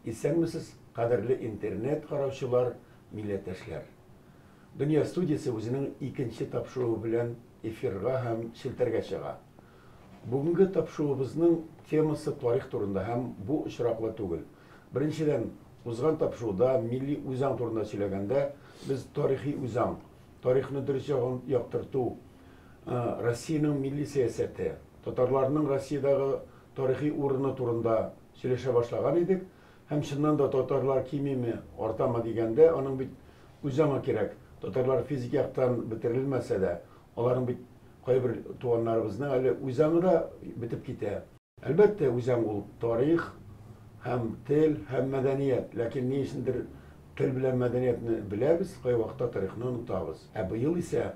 Исәнмесез, кадерле интернет караучылар, милләттәшләр. Дөнья студиясе үзенең икенче тапшыруы белән эфирга һәм челтәргә чыга. Бүгенге тапшыруыбызның темасы тарих турында һәм бу очраклы түгел. Беренчедән, узган тапшыруда милли үзаң турында сөйләгәндә, без тарихи үзаң, тарихны дөрес ягын яктырту, Россиянең милли сәясәте, татарларның Россиядәге тарихи урыны турында сөйләшә башлаган идек. Һәм чыннан да татарлар кимиме, артамы дигәндә, аның бит үзаңы кирәк. Татарлар физик яктан бетерелмәсә дә, аларның бит кайбер туганнарыбызның әле үзаңы да бетеп китә. Әлбәттә, үзәң ул тарих һәм тел һәм мәдәният. Ләкин ни өчендер тел белән мәдәниятне беләбез, кайвакытта тарихны онытабыз. Ә быел исә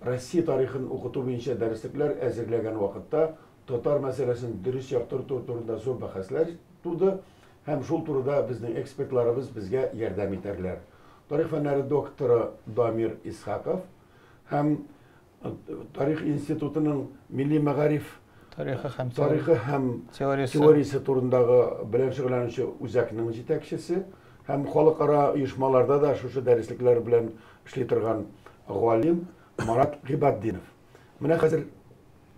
Россия тарихын укыту буенча дәреслекләр әзерләгән вакытта татар мәсьәләсен дөрес яктырту турында зур бәхәсләр туды һәм шул турыда безнең экспертларыбыз безгә ярдәм итәрләр. Тарих фәннәре докторы Дамир Исхаков һәм тарих институтының милли мәгариф тарихы һәм тарихы һәм теориясе, теориясе турындагы белән шөгыльләнүче үзәкнең җитәкчесе һәм халыкара оешмаларда да шушы дәреслекләр белән эшли торган галим Марат Гыйбатдинов. Менә хәзер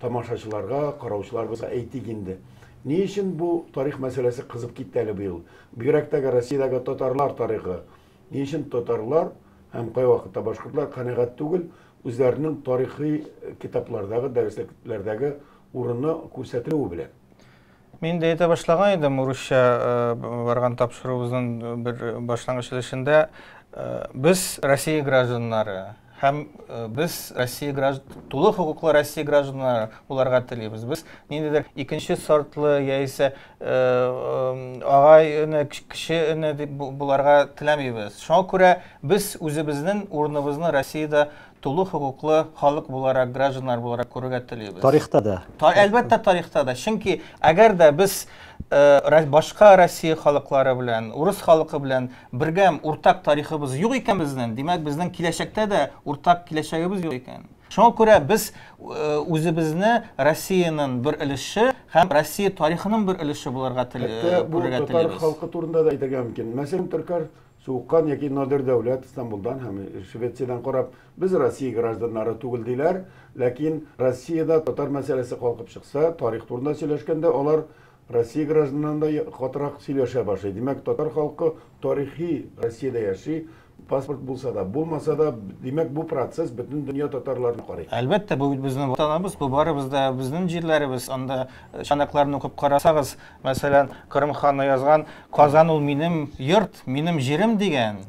тамашачыларга, караучыларыбызга әйтик инде. Ни өчен бу тарих мәсьәләсе кызып китте әле быел? Бигрәк тә Россиядәге татарлар тарихы Ни өчен татарлар һәм кайвакытта башкортлар канәгать түгел, үзләренең тарихи китаплардагы, дәресләрдәге урыны күрсәтелүе белән? Мин дә әйтә башлаган идем, урысча барган тапшыруыбызның бер башлангыч өлешендә. Без Россия гражданнары, Һәм без Россия гражд... тулы хокуклы Россия гражданнары буларга телибез. Без ниндидер икенче сортлы яисә агай өне, кеше өне дип буларга теләмибез. Шуңа күрә без үзебезнең урыныбызны Россиядә тулы хокуклы халык буларак, гражданнар буларак күрергә телибез. Тарихта да. Та, әлбәттә, тарихта да. Чөнки әгәр дә без э, башка Россия халыклары белән, урыс халкы белән Бердәм, уртак тарихыбыз юк икән безнең, димәк, безнең киләчәктә дә уртак киләчәгебез юк икән. Шуңа күрә без э, үзебезне Россиянең бер өлеше һәм Россия тарихының бер өлеше булырга тел- Хәтта э, бу күрергә татар телибез. халкы турында да әйтергә мөмкин. Мәсәлән, Төркәр Суыккан яки Надир Дәүләт Стамбулдан һәм Швециядән карап, без Россия гражданнары түгел диләр, ләкин Россиядә татар мәсьәләсе калкып чыкса, тарих турында сөйләшкәндә алар Россия гражданнарын да катырак сөйләшә башлый. Димәк, татар халкы тарихи Россиядә яши, паспорт булса да, булмаса да, димәк, бу процесс бөтен дөнья татарларына карый. Әлбәттә, бу бит безнең Ватаныбыз, бу барыбыз да безнең җирләребез. Анда чанакларны укып карасагыз, мәсәлән, Кырым ханы язган, Казан ул минем йорт, минем җирем дигән.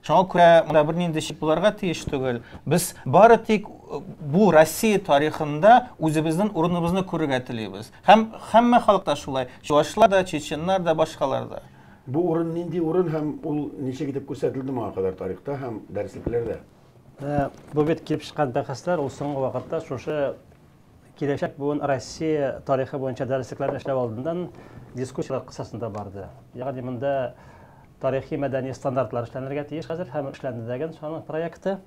Шуңа күрә монда бернинди шик буларга тиеш түгел. Без бары тик бу Россия тарихында үзебезнең урыныбызны күрергә телибез. Һәм һәммә халык та шулай, чувашлар да, чеченнар да, башкалар да. Бу урын нинди урын һәм ул ничек итеп күрсәтелде моңа кадәр тарихта һәм дәреслекләрдә? Бу бит килеп чыккан бәхәсләр, ул соңгы вакытта шушы киләчәк буын Россия тарихы буенча дәреслекләрне эшләү алдыннан дискуссияләр кысасында барды. Ягъни монда тарихи-мәдәни стандартлар эшләнергә тиеш хәзер һәм эшләнде дә генә шуның проекты.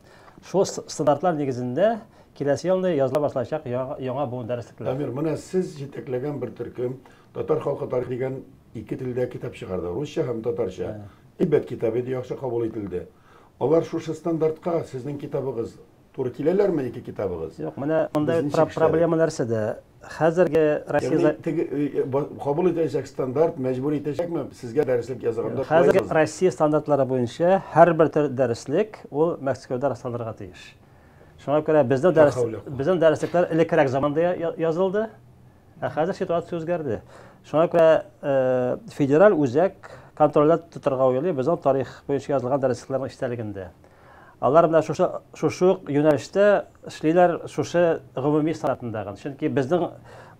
Шул стандартлар нигезендә киләсе елны языла башлаячак яңа буын дәреслекләр. Дамир, менә сез җитәкләгән бер төркем Татар халкы тарихы дигән ике телдә китап чыгарды, русча һәм татарча. Әйбәт китап иде, яхшы кабул ителде. Алар шушы стандартка сезнең китабыгыз туры киләләрме, ике китабыгыз? Юк, менә монда проблема нәрсәдә? хәзерге Россия кабул итәчәк стандарт мәҗбүр итәчәкме сезгә дәреслек язганда? Хәзерге Россия стандартлары буенча һәрбер дәреслек ул Мәскәүдә расланырга тиеш. Шуңа күрә безнең дәрес безнең дәреслекләр элеккерәк заманда язылды. Ә хәзер ситуация үзгәрде. Шуңа күрә э, федераль үзәк контрольдә тотарга уйлый, безнең тарих буенча язылган дәреслекләрнең эчтәлегендә. Алар менә шушы шушы ук юнәлештә эшлиләр, шушы гомуми санатында гына. Чөнки безнең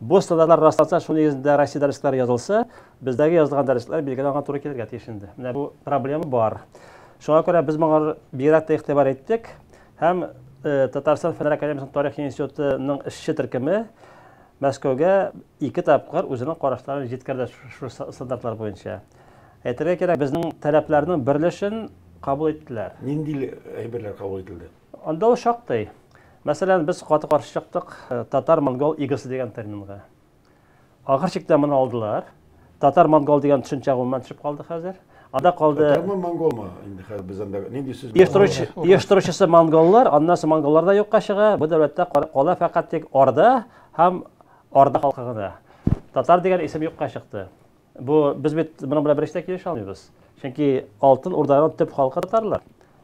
бу стандартlar расланса, шуның нигезендә Россия дәресләре язылса, бездәге язылган дәресләр билгеле аңа туры килергә тиеш инде. Менә бу проблема бар. Шуңа күрә без моңа бигрәк тә игътибар иттек һәм э, Татарстан фәннәр академиясенең тарих институтының эшче төркеме Мәскәүгә ике тапкыр үзенең карашларын җиткерде шушы стандартлар буенча. Әйтергә кирәк, безнең таләпләрнең берлешен кабул иттеләр. Нинди әйберләр кабул ителде? Анда ул шактый. Мәсәлән, без каты каршы чыктык татар-монгол игосы дигән терминга. Ахыр чиктә моны алдылар. Татар-монгол дигән төшенчә гомумән төшеп калды хәзер. Анда калды. Татармы, монголмы? Инде хәзер без анда нинди сүз Оештыручы, оештыручысы монголлар, аннан соң монголлар да юкка чыга. Бу дәүләттә кала фәкать тик Орда һәм Орда халкы гына. Татар дигән исем юкка чыкты. Бу без бит моның белән бериштә килешә алмыйбыз. Чөнки Алтын Урданың төп халкы татарлар.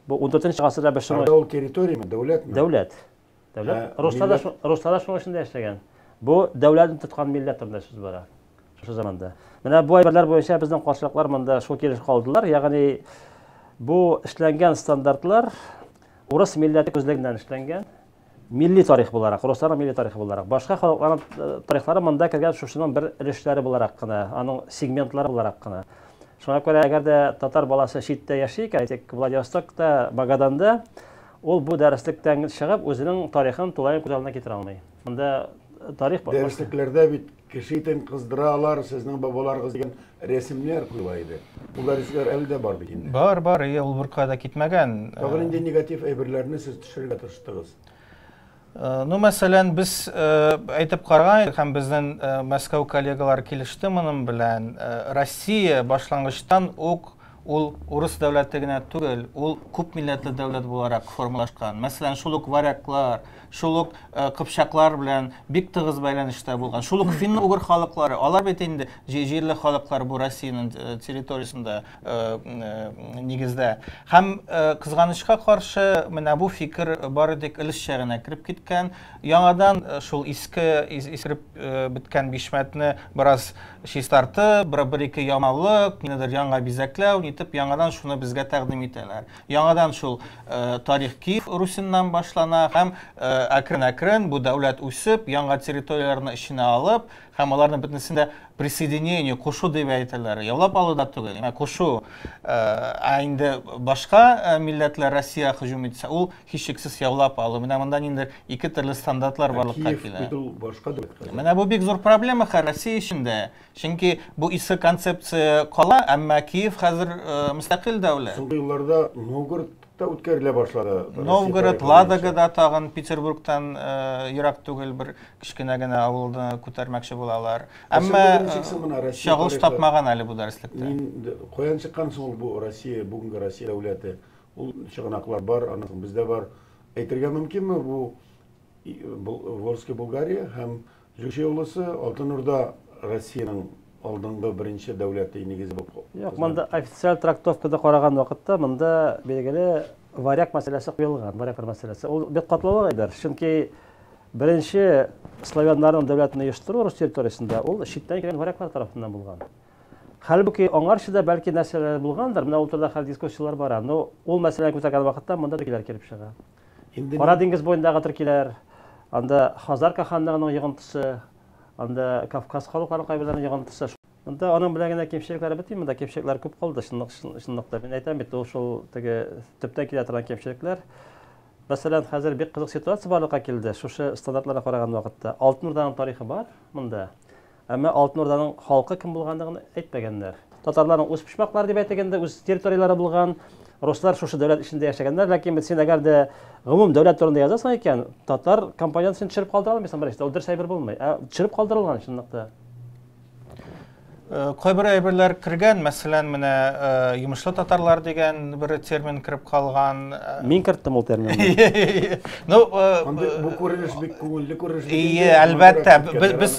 Бу 14 нче гасырда без шуны Ул территориямы, дәүләтме? Дәүләт. Дәүләт. Руслар да руслар да шуның эчендә яшәгән. Бу дәүләтне тоткан милләт турында сүз бара. Шушы заманда. Менә бу әйберләр буенча безнең каршылыклар монда шул килеш калдылар. Ягъни бу эшләнгән стандартлар урыс милләте күзлегеннән эшләнгән. Милли тарих буларак, русларның милли тарихы буларак, башка халыкларның э, тарихлары монда кергән шушының бер өлешләре буларак кына, аның сегментлары буларак кына. Шуңа күрә, әгәр дә татар баласы читтә яши икән, әйтик, Владивостокта, Магаданда, ул бу дәреслектән чыгып, үзенең тарихын тулаем күз алдына китерә алмый. Монда э, тарих... Дәреслекләрдә бит Кеше итен кыздыра алар, сезнең бабаларыгыз дигән рәсемнәр куела иде. Ул дәресләр әле дә бар бит инде. Бар, бар, әйе, ул беркая да китмәгән. Тагын э, нинди негатив әйберләрне сез төшерергә тырыштыгыз? Э, ну, мәсәлән, без э, әйтеп караган идек һәм безнең Мәскәү коллегалар килеште моның белән. Россия башлангычтан ук Ул урыс дәүләте генә түгел, ул күп милләтле дәүләт буларак формалашкан. Мәсәлән, шул ук варяглар, шул ук кыпчаклар белән бик тыгыз бәйләнештә булган. Шул ук финно-угр халыклары, алар бит инде җирле халыклар бу Россиянең территориясендә нигездә. Һәм, кызганычка каршы, менә бу фикер бары тик өлешчә генә кереп киткән. Яңадан шул иске, искереп беткән бишмәтне бераз чистартып, бер-ике яңалык, нидер яңа бизәкләү, нитеп, яңадан шуны безгә тәкъдим итәләр. Яңадан шул тарих Киев Русеннан башлана һәм әкрен-әкрен бу дәүләт үсеп, яңа территорияләрне эченә алып һәм аларны бөтенесен дә присоединение, кушу дип әйтәләр. Яулап алу да түгел, кушу. Ә инде башка милләтләр Россия һөҗүм итсә, ул Һичшиксез яулап алу. Менә монда ниндидер ике төрле стандартлар ә барлыкка килә. Менә бу бик зур проблема хәзер Россия эчендә. Чөнки бу иске концепция кала, әмма Киев хәзер э, мөстәкыйль дәүләт. Соңгы елларда Новгородта үткәрелә башлады. Новгород, Ладогада тагын Петербургтан э, ерак түгел бер кечкенә генә авылны күтәрмәкче булалар. Әмма чагылыш тапмаган әле бу дәреслектә. Мин каян чыккан соң бу Россия, бүгенге Россия дәүләте? Ул чыганаклар бар, аны бездә бар. Әйтергә мөмкинме бу Волжский Булгария һәм Җүче улысы Алтын Урда Россиянең алдынгы беренче дәүләте нигезе булып. Юк, монда официаль трактовкада караган вакытта монда билгеле варяг мәсьәләсе куелган, варяглар мәсьәләсе. Ул бик катлаулы әйбер, чөнки беренче славяннарның дәүләтен оештыру рус территориясендә ул читтән килгән варяглар тарафыннан булган. Хәлбуки, аңарчы да бәлки нәрсәләр булгандыр, менә ул турыда хәл дискуссияләр бара. Но ул мәсьәләне күтәргән вакытта монда төркиләр килеп чыга. Кара диңгез буендагы төркиләр, анда Хазарка ханлыгының йогынтысы, анда Кавказ халыкларының кайберләренең йогынтысы. Монда аның белән генә кимчелекләре бетми, монда кимчелекләр күп калды, чынлыкта. Мин әйтәм бит, ул шул теге төптән килә торган кимчелекләр. Мәсәлән, хәзер бик кызык ситуация барлыкка килде, шушы стандартларга караган вакытта. Алтын Урданың тарихы бар монда. Әмма Алтын Урданың халкы кем булганлыгын әйтмәгәннәр. Татарларның үз почмаклары дип әйтик инде, үз территорияләре булган, руслар шушы дәүләт эчендә яшәгәннәр, ләкин бит син әгәр дә гомум дәүләт турында язасың икән, татар компонент син төшереп калдыра алмыйсың беренчедән, ул дөрес әйбер булмый. Ә төшереп калдырылган чынлыкта. Э, кайбер әйберләр кергән, мәсәлән, менә э, йомышлы татарлар дигән бер термин кереп калган. Э, Мин керттем ул терминны. Ну, бу күренеш бик күңелле күренеш. Ие, әлбәттә, без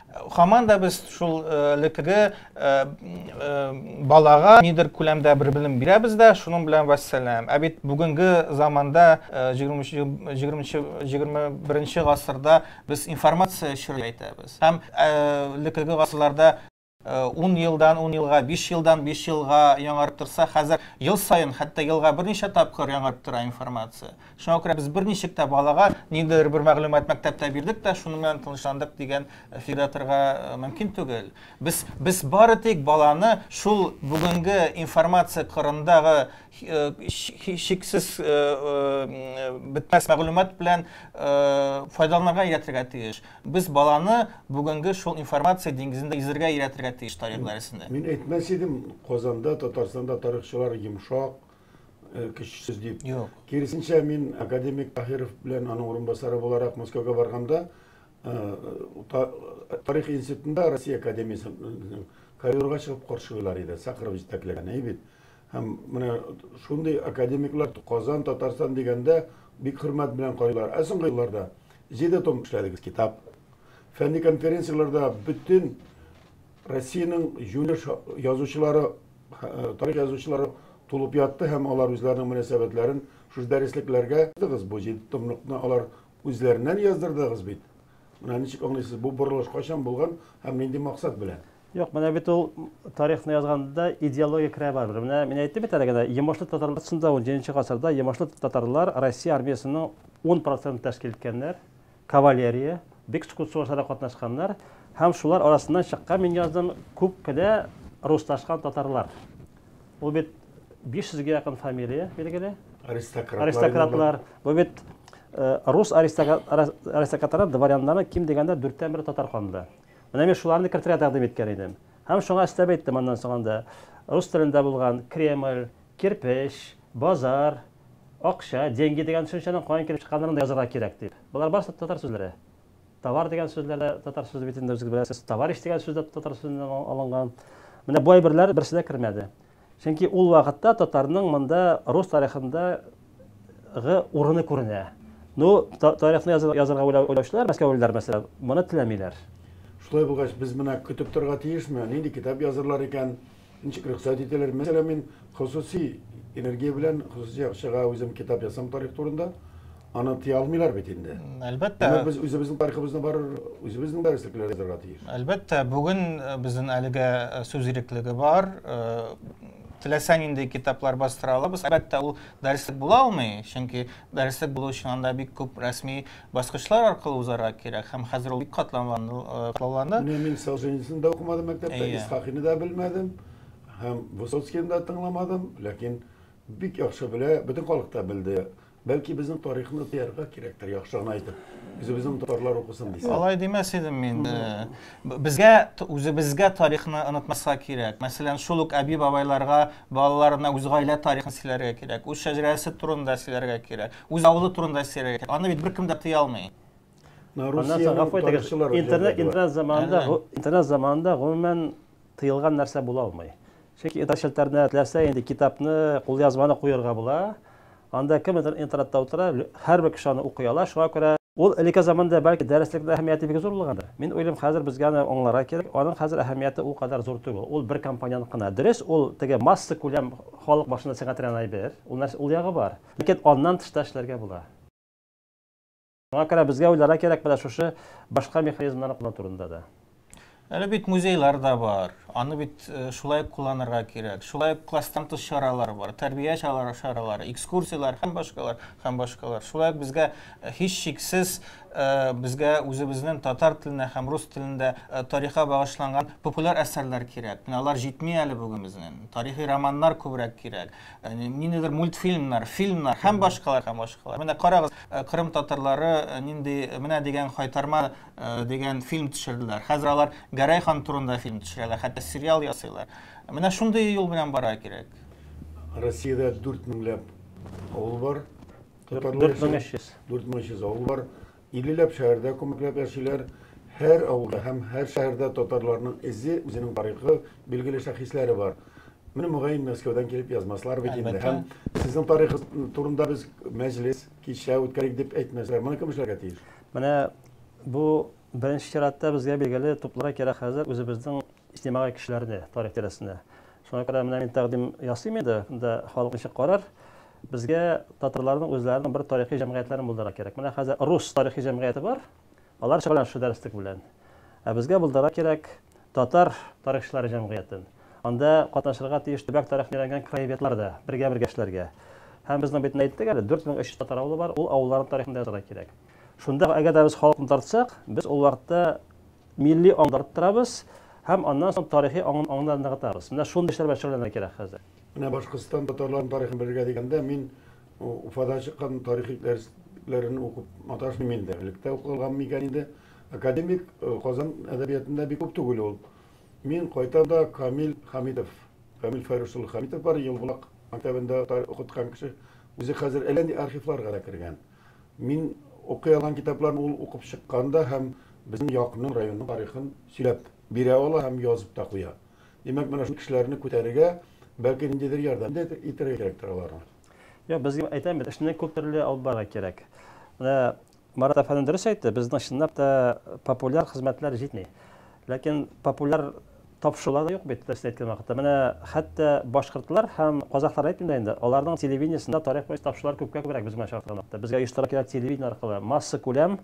Хаман да без шул элекеге балага нидер күләмдә бер белем бирәбез дә, шуның белән вәссәлам. Ә бит бүгенге заманда 20-21 гасырда без информация чоры әйтәбез. Һәм элекеге гасырларда 10 елдан 10 елга, 5 елдан 5 елга яңарып торса, хәзер ел саен, хәтта елга берничә тапкыр яңарып тора информация. Шуңа күрә без берничек тә балага ниндидер бер мәгълүмат мәктәптә бирдек тә, шуның белән тынычландык дигән фикердә торырга э, мөмкин түгел. Без без бары тик баланы шул бүгенге информация кырындагы э, шиксез э, бетмәс мәгълүмат белән файдаланырга өйрәтергә тиеш. Без баланы бүгенге шул информация диңгезендә йөзергә өйрәтергә тиеш тарих дәресендә. Мин әйтмәс идем, Казанда, Татарстанда тарихчылар йомшак, көчсез дип. Юк. Киресенчә, мин академик Таһиров белән аның урынбасары буларак Мәскәүгә барганда, тарих институтында Россия академиясенең коридорга чыгып каршылыйлар иде, Сахаров җитәкләгән, әй бит. Һәм менә шундый академиклар Казан, Татарстан дигәндә бик хөрмәт белән карыйлар. Ә соңгы елларда җиде том эшләдегез китап. Фәнни конференцияләрдә бөтен Россиянең җүле язучылары, тарих язучылары тулып ятты һәм алар үзләренең мөнәсәбәтләрен шушы дәреслекләргә дыгыз бу җиде томлыкны алар үзләреннән яздырдыгыз бит. Менә ничек аңлыйсыз, бу борылыш кайчан булган һәм нинди максат белән? Юк, менә бит ул тарихны язганда идеология керә барыбер. Менә мин әйттем бит әле генә, Йомышлы татарлар шунда 17 гасырда Йомышлы татарлар Россия армиясенең 10% тәшкил иткәннәр. Кавалерия, бик скут сугышларда катнашканнар һәм шулар арасыннан чыккан мин яздым күп кенә русташкан татарлар. Ул бит 500 гә якын фамилия билгеле. Аристократлар. Аристократлар. Бу бит э, рус аристократларының дворяннарының ким дигәндә дүрттән бере татар канында. Менә мин шуларны кертергә тәкъдим иткән идем. Һәм шуңа өстәп әйттем аннан соң анда рус телендә булган Кремль, Кирпеч, базар, акча, деньги дигән төшенчәнең каян килеп чыкканлыгын да язырга кирәк, дип. Болар барысы да татар сүзләре. Товар дигән сүзләр дә татар сүзе бит инде, үзегез беләсез. Товарищ дигән сүз дә татар сүзеннән алынган. Менә бу әйберләр берсе дә кермәде. Чөнки ул вакытта татарның монда рус тарихында гы урыны күренә. Ну, тарихны язырга уйлаучылар, мәскәүлеләр, мәсәлән, моны теләмиләр. Шулай булгач, без менә көтеп торырга тиешме, нинди китап язырлар икән? Ничек рөхсәт итәләр? Мәсәлән, мин хосусый энергия белән, хосусый акчага үзем китап ясам тарих турында. Аны тыя алмыйлар бит инде. Әлбәттә. Димәк, без үзебезнең тарихыбызны барыр, үзебезнең дәреслекләр язарга тиеш. Әлбәттә, бүген э, безнең әлегә э, сүз иреклеге бар. Э, теләсә нинди китаплар бастыра алабыз. Әлбәттә, ул дәреслек була алмый, чөнки дәреслек булу өчен анда бик күп рәсми баскычлар аркылы узарга кирәк һәм хәзер ул бик катлауланды. Менә мин Солженицын да укымадым мәктәптә, Исхакыйны да белмәдем һәм Высоцкийны да тыңламадым, ләкин бик яхшы белә, бөтен халык та белде. Бәлки безнең тарихны тыярга кирәктер, яхшы гына әйтеп. Үзебезнең татарлар укысын дисәң. Алай димәс идем мин. Безгә үзебезгә тарихны онытмаска кирәк. Мәсәлән, шул ук әби-бабайларга балаларына үз гаилә тарихын сөйләргә кирәк, үз шәҗәрәсе турында сөйләргә кирәк. Үз авылы турында сөйләргә кирәк. Аны бит беркем дә тыя алмый. Интернет заманында, интернет заманында гомумән тыелган нәрсә була алмый. Чөнки интернет челтәренә теләсә инде китапны, кулъязманы куярга була. Анда кем интернетта утыра, һәрбер кеше аны укый ала, шуңа күрә Ул элекке заманда бәлки дәреслекнең әһәмияте бик зур булгандыр. Мин уйлыйм, хәзер безгә аны аңларга кирәк. Аның хәзер әһәмияте ул кадәр зур түгел. Ул бер компонент кына. Дөрес, ул теге масса күләм халык башында сеңә торган әйбер. Ул нәрсә, ул ягы бар. Ләкин аннан тыш та эшләргә була. Шуңа күрә безгә уйларга кирәк менә шушы башка механизмнарны куллану турында да. Әле бит музейлар да бар. Аны бит шулай ук кулланырга кирәк. Шулай ук класстан тыш чаралар бар. Тәрбия чаралары, экскурсияләр һәм башкалар, һәм башкалар. Шулай ук безгә һичшиксез безгә үзебезнең татар теленә һәм рус телендә тарихка багышланган популяр әсәрләр кирәк. Менә алар җитми әле бүген безнең. Тарихи романнар күбрәк кирәк. ниндидер мультфильмнар, фильмнар һәм башкалар һәм башкалар. Менә карагыз, э, Кырым татарлары э, нинди э, менә дигән хайтарма дигән фильм төшерделәр. Хәзер алар Гәрәй хан турында фильм төшерәләр, хәтта сериал ясыйлар. Менә шундый юл белән бара кирәк. Россиядә 4 меңләп авыл бар. 4300 авыл бар. Иллеләп шәһәрдә күмекләп яшиләр. Һәр авылда һәм һәр шәһәрдә татарларның эзе, үзенең тарихы, билгеле шәхесләре бар. Менә мөгаен Мәскәүдән килеп язмаслар бит инде. Әлбәттә. Һәм сезнең тарихыз турында без мәҗлес, кичә үткәрик дип әйтмәсләр. Моны кем эшләргә тиеш? Менә бу беренче чиратта безгә билгеле тупларга кирәк хәзер үзебезнең иҗтимагый кешеләрне тарих тирәсенә. Шуңа күрә менә мин тәкъдим ясыйм инде, монда халык ничек карар. Безгә татарларның үзләренең бер тарихи җәмгыятьләрен булдырырга кирәк. Менә хәзер рус тарихи җәмгыяте бар, алар шөгыльләнә шул дәреслек белән. Ә безгә булдырырга кирәк татар тарихчылары җәмгыятен. Анда катнашырга тиеш төбәк тарихын өйрәнгән краеведлар да, бергә-бергә эшләргә. Һәм безнең бит әйттек әле, 4300 татар авылы бар, ул авылларның тарихын да язарга кирәк. Шунда әгәр дә без халыкны тартсак, без ул вакытта Милли аңны арттырабыз һәм аннан соң тарихи аңны ныгытабыз. Менә шундый эшләр белән шөгыльләнергә кирәк хәзер. Менә Башкортстан татарларының тарихын белергә дигәндә, мин Уфада чыккан тарихи дәресләрен укып маташмыйм инде. Электә укылган микән инде? Академик Казан әдәбиятында бик күп түгел ул. Мин кайтам да Камил Хәмитов, Камил Фәйрүс улы Хәмитов бар, Елбулак мәктәбендә укыткан кеше. Үзе хәзер әллә нинди архивларга да кергән. Мин укый алган китапларны ул укып чыккан да һәм безнең якынның, районның тарихын сөйләп бирә ала һәм язып та куя. Димәк, менә шундый кешеләрне күтәрергә, бәлки, ниндидер ярдәм дә итәргә кирәктер аларга. Юк, без әйтәм бит, эшне күп төрле алып барырга кирәк. Менә Марат әфәнде дөрес әйтте, безнең чынлап та популяр хезмәтләр җитми. Ләкин популяр Тапшырулар да юк бит, дөресен әйткән вакытта. Менә хәтта башкортлар һәм казахларны әйтмим дә инде, аларның телевидениесендә тарих буенча тапшырулар күпкә күбрәк безгә чагыштырганда. Хәтта безгә оештыра кирәк телевидение аркылы, массакүләм,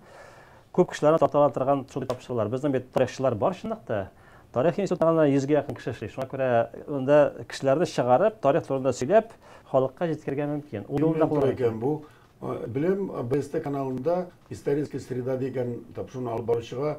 күп кешеләрне тарта торган шундый тапшырулар. Безнең бит тарихчылар бар чынлап та. Тарих институтында гына йөзгә якын кеше эшли. Шуңа күрә монда кешеләрне чыгарып, тарих турында сөйләп, халыкка җиткерергә мөмкин. Ул юлны да кулланырга мөмкин. Кемнән тора икән бу? Беләм, АБСТ каналында Историческая среда дигән тапшыруны алып баручыга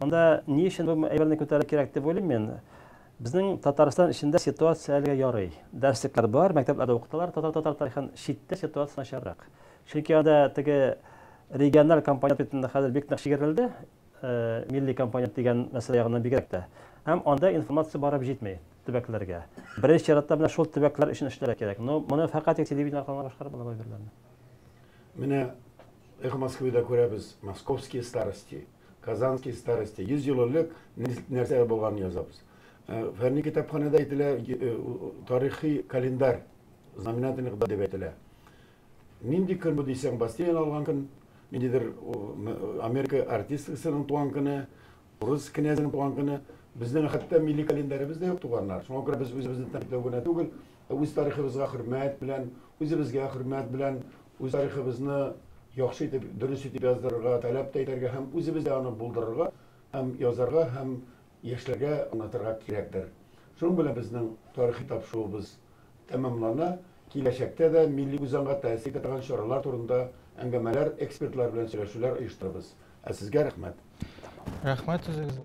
Монда ни өчен бу әйберне күтәрү кирәк дип уйлыйм мин. Безнең Татарстан эчендә ситуация әлегә ярый. Дәреслекләр бар, мәктәпләрдә укыталар татар татар тарихын, читтә ситуация начаррак. Чөнки анда теге региональ компонент бит инде хәзер бик нык чигерелде, милли компонент дигән мәсьәлә ягыннан бигрәк тә. Һәм анда информация барып җитми төбәкләргә. Беренче чиратта менә шул төбәкләр өчен эшләргә кирәк. Но моны фәкать тик телевидение аркылы гына башкарып була бу әйберләрне. Менә Эхо Москвы да күрәбез, Московские старости, Казанские старости, 100 ел элек нәрсә булганын язабыз. Фәнни китапханәдә әйтелә, тарихи календарь, знаменательный кыда дип әйтелә. Нинди көн бу дисәң, Бастилияне алган көн, ниндидер Америка артисткасының туган көне, урыс князенең туган көне. Безнең хәтта милли календаребез дә юк туганнар. Шуңа күрә без үзебезне тәнкыйтьләү генә түгел, Үз тарихыбызга хөрмәт белән, үзебезгә хөрмәт белән, үз тарихыбызны яхшы итеп, дөрес итеп яздырырга, таләп тә итәргә һәм үзебез дә аны булдырырга һәм язарга һәм яшьләргә аңлатырга кирәктер. Шуның белән безнең тарихи тапшыруыбыз тәмамлана. Киләчәктә дә милли үзаңга тәэсир итә торган чаралар турында әңгәмәләр, экспертлар белән сөйләшүләр оештырырбыз. Ә сезгә рәхмәт. Рәхмәт үзегезгә.